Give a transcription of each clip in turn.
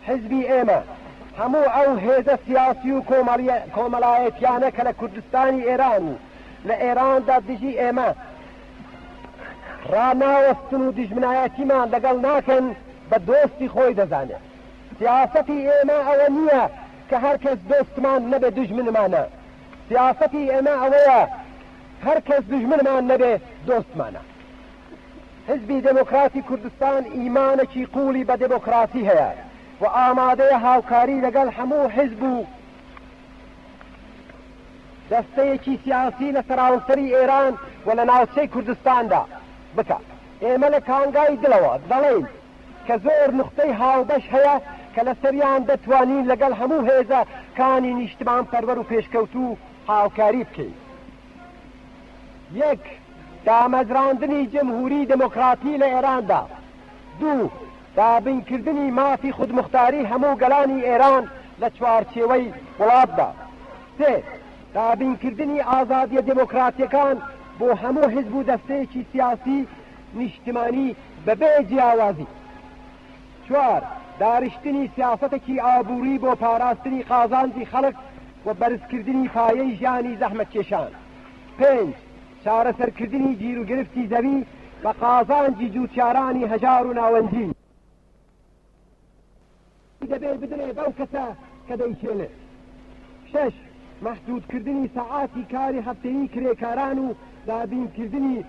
حزبی ئێمە هەموو ئەو هێزە سیاسی و کۆمەڵایەتیانە کە لە کوردستانی ئێران و لە ئێراندا دژی ئێمە ڕناوەستن و دژمنایەتیمان لەگەڵ ناکەن بە دۆستی خۆی دەزانێت سیاستی ئێمە ئەوە نییە کە هەر کەس دۆستمان نەبێ دژمنمانە سیاستی ئێمە ئەوەیە هەر کەس دژمنمان نەبێ دۆستمانە حیزبی دێمۆکراتی کوردستان ئیمانێکی قووڵی بە دێمۆکڕاسی هەیە و ئامادەیە هاوکاری لەگەڵ هەموو حیزب و دەستەیەکی سیاسی لە سەراوسەری ئێران و لە ناوچەی کوردستاندا بکات ئێمە لە کانگای دڵەوە دەڵێین کە زۆر نوختەی هاوبەش هەیە کە لە سەریان دەتوانین لەگەڵ هەموو هێزە کانی نیشتمان پەروەر و پێشکەوتوو هاوکاری بکەین یەک، دامەزراندنی جمهوری دموکراتی لە ئێراندا. دوو، دابینکردنی مافی خودموختاری هەموو گەلانی ئێران لە چوارچێوەی وڵاتدا. سێ، دابینکردنی ئازادیە دموکراتیەکان بۆ هەموو حزب و دەستەیەکی سیاسی نیشتمانی بەبێ جیاوازی. چوار، دارشتنی سیاسەتەکی ئابووری بۆ پاراستنی قازانجی خەڵک و بەرزکردنی پایەی ژیانی زەحمەتکێشان. پێنج، چارەسەرکردنی گیروگرفتی زەوی بە قازانجی جووتیارانی هەژار و ناوەندی. دەبێ بدرێ بەو کەسە کە دەیچێنێ. شەش، مەحدوودکردنی سەعاتی کاری هەفتەیی کرێکاران و دابینکردنی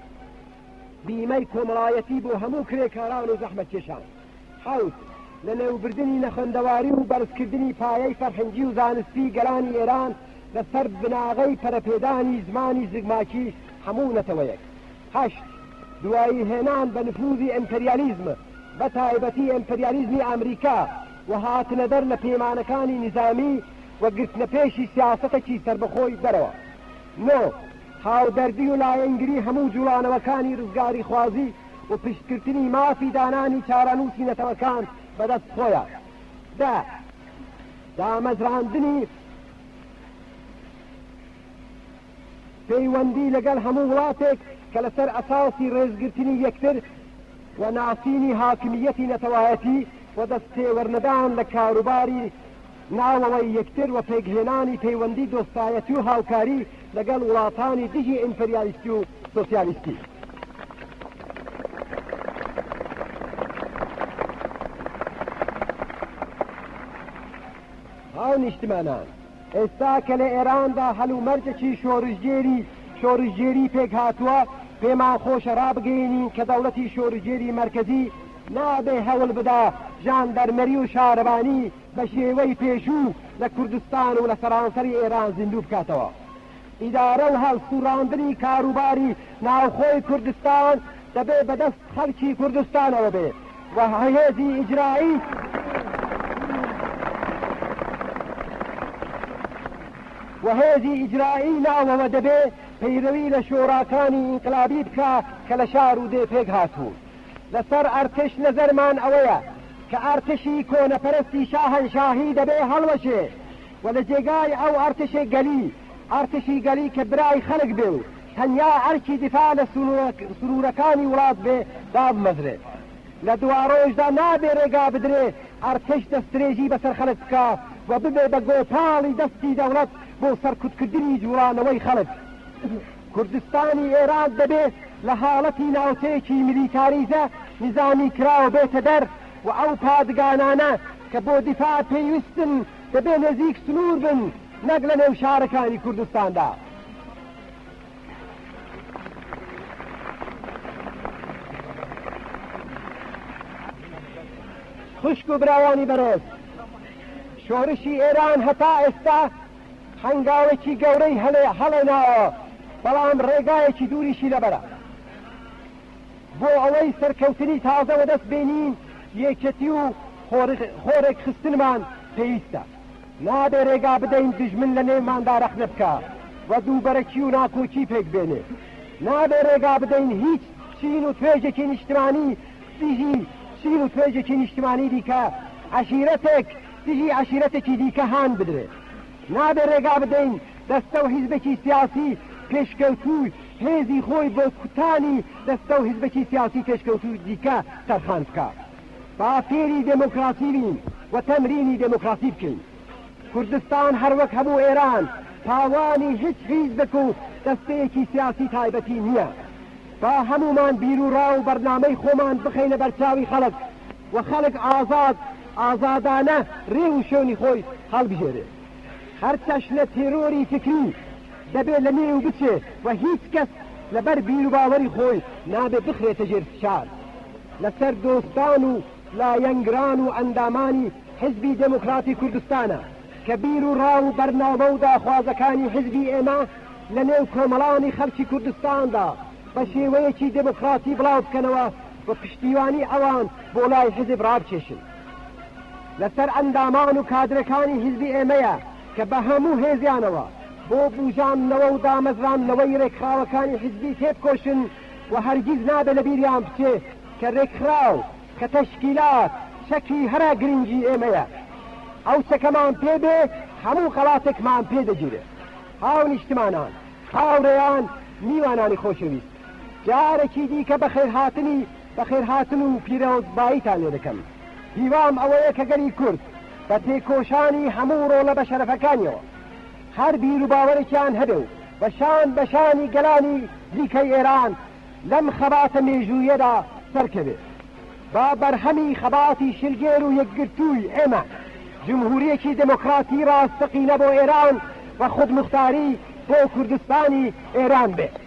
بیمەی کۆمەڵایەتی بۆ هەموو کرێکاران و زەحمەتکێشان. حەوت، لەنێوبردنی نەخوێندەواری و بەرزکردنی پایەی فەرهەنگی و زانستی گەلانی ئێران لەسەر بناغەی پەرەپێدانی زمانی زگماکی هەموو نەتەوەیەک. هەشت، دوایی هێنان بە نفوزی ئیمپریالیزم بە تایبەتی ئیمپریالیزمی ئامریکا و هاتنەدەر لە پەیمانەکانی نیزامی و گرتنەپێشی سیاسەتەکی سەربەخۆی دەرەوە. نۆ، هاودەردی و لایەنگری هەموو جوڵانەوەکانی رزگاریخوازی و پشتگرتنی مافی دانانی چارەنووسی نەتەوەکان بەدەست خۆیان. دە، دامەزراندنی پەیوەندی لەگەڵ هەموو وڵاتێک کە لەسەر ئەساسی رێزگرتنی یەکتر و ناسینی هاکمییەتی نەتەوایەتی و دەستتێوەرنەدان لە کاروباری ناوەوەی یەکتر و پێکهێنانی پەیوەندی دۆستایەتی و هاوکاری لەگەڵ وڵاتانی دژی ئیمپریالیستی و سۆسیالیستی. هاونیشتمانان، ئێستا کە لە ئێراندا هەلومەرجێکی شۆرشگێری شۆرشگێری پێکهاتووە، پێمان خۆشە رابگەینین کە دەوڵەتی شۆرشگێری مەرکەزی نابێ هەوڵبدا ژاندەرمەری و شارەوانی بە شێوەی پێشوو لە کوردستان و لە سەرانسەری ئێران زیندوو بکاتەوە. ئیدارە و هەڵسووڕاندنی کاروباری ناوخۆی کوردستان دەبێ بە دەست خەڵکی کوردستانەوە بێ و هێزی ئیجرایی و هێزی ئیجرایی ناوەوە دەبێ پەیرەوی لە شۆراکانی ئینقلابی بکا کە لە شار و دێ پێک هاتوون. لەسەر ئەرتش نەزەرمان ئەوەیە کە ئەرتشی کۆنەپەرستی شاهەنشاهی دەبێ هەڵوەشێ و لە جێگای ئەو ئەرتشی گەلی، ئەرتشی گەلی کە برای خەڵک بێ و تەنیا ئەرکی دیفاع لە سنوورەکانی وڵات بێ دابمەزرێ. لە دواڕۆژدا نابێ رێگا بدرێ ئەرتش دەستدرێژی بەسەر خەڵک بکا و ببێ بە گۆپاڵی دەستی دەوڵەت بۆ سەرکوتکردنی جووڵانەوەی خەڵک. کوردستانی ئێراق دەبێ لە هاڵەتی ناوچەیەکی میلیتاریزە نیزامی کراو بێتە دەر و ئەو پادگانانە کە بۆ دیفاع پێویستن دەبێ نێزیک سنوور بن نەک لە نێو شارەکانی کوردستاندا. خوشک و براوانی بەڕێز، شۆرشی ئێران هەتا ئێستا، هەنگاوێکی گەورەی هەڵێناوە، بەڵام ڕێگایەکی دووریشی لەبەرە بۆ ئەوەی سەرکەوتنی تازە وەدەست بێنین، یەکێتی و خۆڕێکخستنمان پێویستە، نابێ ڕێگا بدەین دوژمن لە نێوماندا ڕەخنە بکا و دووبەرەکی و ناکۆکی پێک بێنێ، نابێ ڕێگا بدەین هیچ چین و توێژێکی نیشتمانی دژی چین و توێژێکی نیشتمانی دیکە، عەشیرەتێک، دژی عەشیرەتێکی دیکە هان بدرێ. نابێ رێگا بدەین دەستە و حیزبێکی سیاسی پێشکەوتوو هێزی خۆی بۆ کوتانی دەستە و حیزبێکی سیاسی پێشکەوتووی دیکە تەرخان بکا. با فێری دێمۆکڕاسی بین و تەمرینی دێمۆکڕاسی بکەین. کوردستان هەر وەک هەموو ئێران پاوانی هیچ حیزبێک و دەستەیەکی سیاسی تایبەتی نییە. با هەموومان بیروڕا و بەرنامەی خۆمان بخەینە بەرچاوی خەڵک و خەڵک ئازاد ئازادانە رێ و شوێنی خۆی هەڵبژێرێ. هەر چەشنە تێرۆری فیکری دەبێ لە نێو بچێ و هیچ کەس لە بەر بیروباوەری خۆی نابێ بخرێتە ژێر فشار. لە سەر دۆستان و لایەنگران و ئەندامانی حیزبی دێموکڕاتی کوردستانە کە بیر و ڕا و بەرنامە و داخوازەکانی حیزبی ئێمە لە نێو کۆمەڵانی خەڵکی کوردستاندا بە شێوەیەکی دێمۆکڕاتی بڵاو بکەنەوە و پشتیوانی ئەوان بۆ لای حیزب ڕابکێشن. لە سەر ئەندامان و کادرەکانی حیزبی ئێمەیە کە بە هەموو هێزیانەوە بۆ بووژاندنەوە و دامەزراندنەوەی ڕێکخراوەکانی حیزبی تێبکۆشن و هەرگیز نابێ لە بیریان بچێ کە ڕێکخراو، کە تەشکیلات چەکی هەرە گرینگی ئێمەیە. ئەو چەکەمان پێ بێ هەموو خەڵاتێکمان پێ دەگیرێ. هاونیشتمانان! هاورێیان میوانانی خۆشەویست جارەکی دیکە بەخێرهاتنی بەخێرهاتن و پیرۆزباییتان لێ دەکەم هیوام ئەوەیە کە گەلی کورد بە تێکۆشانی هەموو ڕۆڵە بە شەرەفەکانیەوە هەر بیروباوەرێکیان هەبێ و بە شان بە شانی گەلانی دیکەی ئێران لەم خەباتە مێژوویەدا سەرکەوێت، با بەرهەمی خەباتی شلگێر و یەکگرتووی ئێمە، جمهورییەکی دێمۆکڕاتی ڕاستەقینە بۆ ئێران و خودموختاری بۆ کوردستانی ئێران بێت.